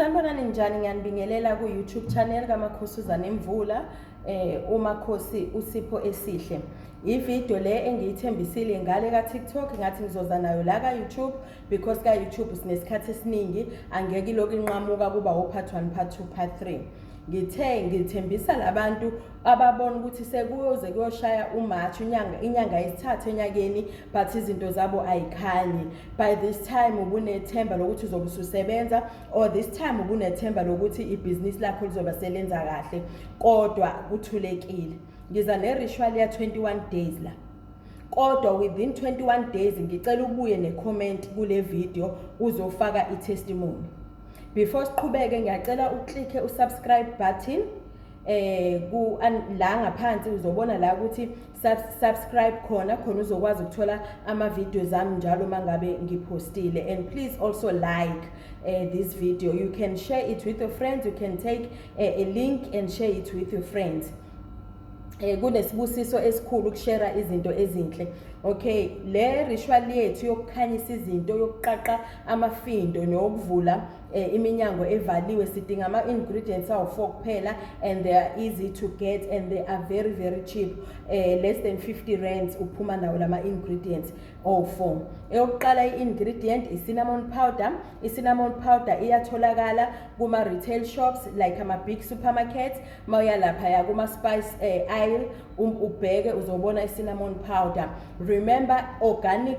Sanibonani njani ngiyanibingelela ku YouTube channel kamakhosuzana imvula eh umakhosi usipho esihle ivideo le engiyithembisile ngale ka TikTok ngathi ngizoza nayo la ka YouTube because ka YouTube sinesikhathi esiningi angeke lokho inqamuka kuba o part 1 part 2 part 3 ngithe ngithembisa labantu ababona ukuthi sekuyoze kuyoshaya umarch inyanga inyanga yesithathu enyakeni but izinto zabo ayikhanyi by this time ubunethemba lokuthi uzobe ususebenza or this time ubunethemba lokuthi ibhizinisi lakho lizobe selenza kahle kodwa kuthulekile ngiza neritual ya 21 days la kodwa within 21 days ngicela ubuye necomment kule video uzofaka itestimony before siqhubeke ngiyacela uklikhe usubscribe button eh ku la ngaphansi uzobona la ukuthi subscribe khona khona uzokwazi ukuthola ama videos ami njalo mangabe ngipostile and please also like uh, this video you can share it with your friends you can take uh, a link and share it with your friends eh kunesibusiso esikhulu ukushare izinto ezinhle okay le ritual yethu yokukhanyisa izinto yokuqaqa amafindo nokuvula eh, iminyango evaliwe sidinga ama-ingredients awu-four kuphela and they are easy to get and they are very very cheap eh, less than 50 rands uphuma nawo la ma-ingredients owu-four eyokuqala i-ingredient i-cinnamon powder i-cinnamon powder iyatholakala kuma-retail shops like ama-big supermarket uma uya laphaya kuma-spice eh, aisle um, ubheke uzobona i-cinnamon powder remember organic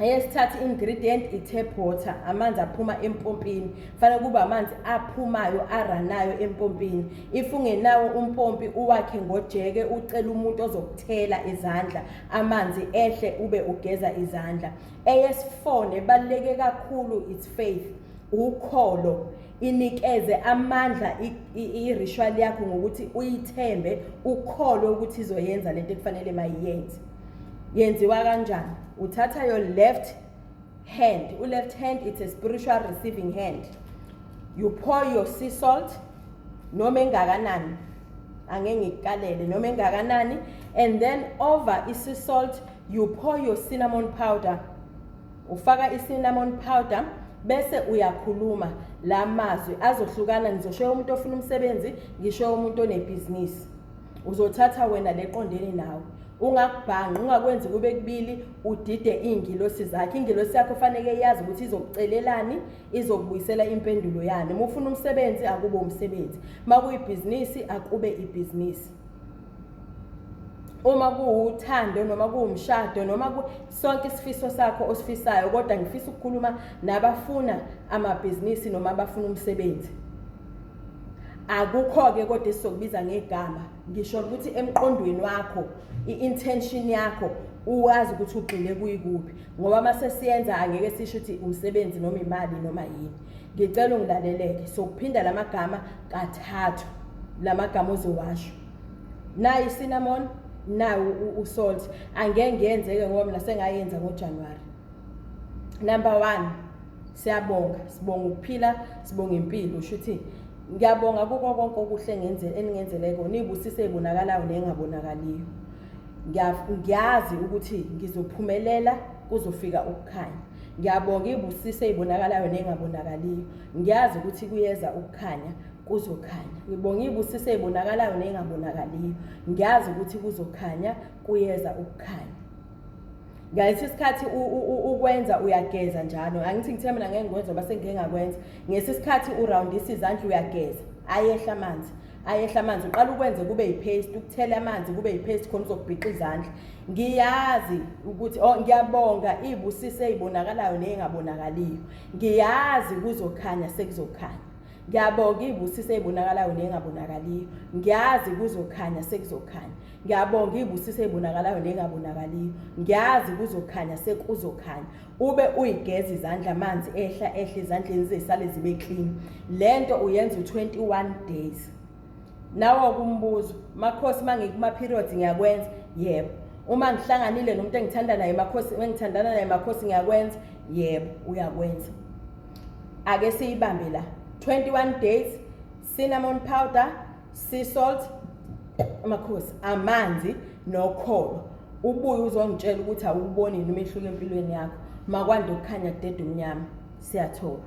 eyesithathu ingredient i-tap water amanzi aphuma empompini fanele kube amanzi aphumayo aranayo empompini if ungenawo umpompi uwakhe ngojeke ucele umuntu ozokuthela izandla amanzi ehle ube ugeza izandla eyesifo nebaluleke kakhulu it's faith ukholo inikeze amandla i-ritual yakho ngokuthi uyithembe ukholwe ukuthi izoyenza lento ekufanele mayiyenze yenziwa kanjani uthatha your left hand u-left hand it's a spiritual receiving hand you pour your sea salt noma engakanani ange ngikukalele noma engakanani and then over i-sea salt you pour your cinnamon powder ufaka i-cinnamon powder bese uyakhuluma la mazwi azohlukana ngizoshoya umuntu ofuna umsebenzi ngishoya umuntu onebhizinisi uzothatha wena leqondene nawe ungakubhanqi ungakwenzi kube kubili udide iy'ngilosi zakhe ingilosi yakho faneke yazi ukuthi izokucelelani izokubuyisela impendulo yani uma ufuna umsebenzi akube umsebenzi uma kuyibhizinisi akube ibhizinisi uma kuwuthando noma kuwumshado noma sonke isifiso sakho osifisayo kodwa ngifisa ukukhuluma nabafuna amabhizinisi noma abafuna umsebenzi akukho-ke kodwa esizokubiza ngegama ngisho ukuthi emqondweni wakho i-intention yakho uwazi ukuthi ugxile kuyikuphi ngoba uma sesiyenza angeke sisho ukuthi umsebenzi noma imali noma yini ngicela ungilaleleke sokuphinda la magama kathathu la magama ozowasho nayi i-cinnamon nayi u-salt angeke ngiyenzeke ngoba mina sengayenza ngojanuwari number one Siyabonga, sibonga ukuphila, sibonga impilo. Usho ukuthi ngiyabonga kuko konke okuhle ngenze eningenzele kona, ibusiso ezibonakalayo nengabonakaliyo. Ngiyazi ukuthi ngizophumelela kuzofika ukukhanya. Ngiyabonga ibusiso ezibonakalayo nengabonakaliyo. Ngiyazi ukuthi kuyeza ukukhanya kuzokhanya. Ngibonga ibusiso ezibonakalayo nengabonakaliyo. Ngiyazi ukuthi kuzokhanya kuyeza ukukhanya. ngaleso sikhathi ukwenza uyageza njalo angithi ngithe mina ngeke ngikwenza ngoba sengike ngakwenza ngesi sikhathi urawundisa izandla uyageza ayehla amanzi ayehla amanzi uqala ukwenze kube yipaste ukuthela amanzi kube yipaste khona uzokubhiqa izandla ngiyazi ukuthi oh ngiyabonga ibusiso eyibonakalayo neyengabonakaliyo ngiyazi kuzokhanya sekuzokhanya ngiyabonga ibusiso eyibonakalayo neyengabonakaliyo ngiyazi kuzokhanya sekuzokhanya Ngiyabonga ibusiso ebonakalayo nengabonakaliyo. Ngiyazi kuzokhanya sekuzokhanya. Ube uyigeza izandla amanzi ehla ehla ezandleni zisale zibe clean. Lento uyenza u21 days. Nawo kumbuzo, makhosi mangikuma periods ngiyakwenza? Yebo. Uma ngihlanganile nomuntu engithanda naye makhosi engithandana naye makhosi ngiyakwenza? Yebo, uyakwenza. Ake siyibambe la. 21 days cinnamon powder sea salt amakhosi amanzi nokholo ubuye uzongitshela ukuthi awuboni yini umehluko empilweni yakho makwande ukukhanya kudede umnyama siyathoba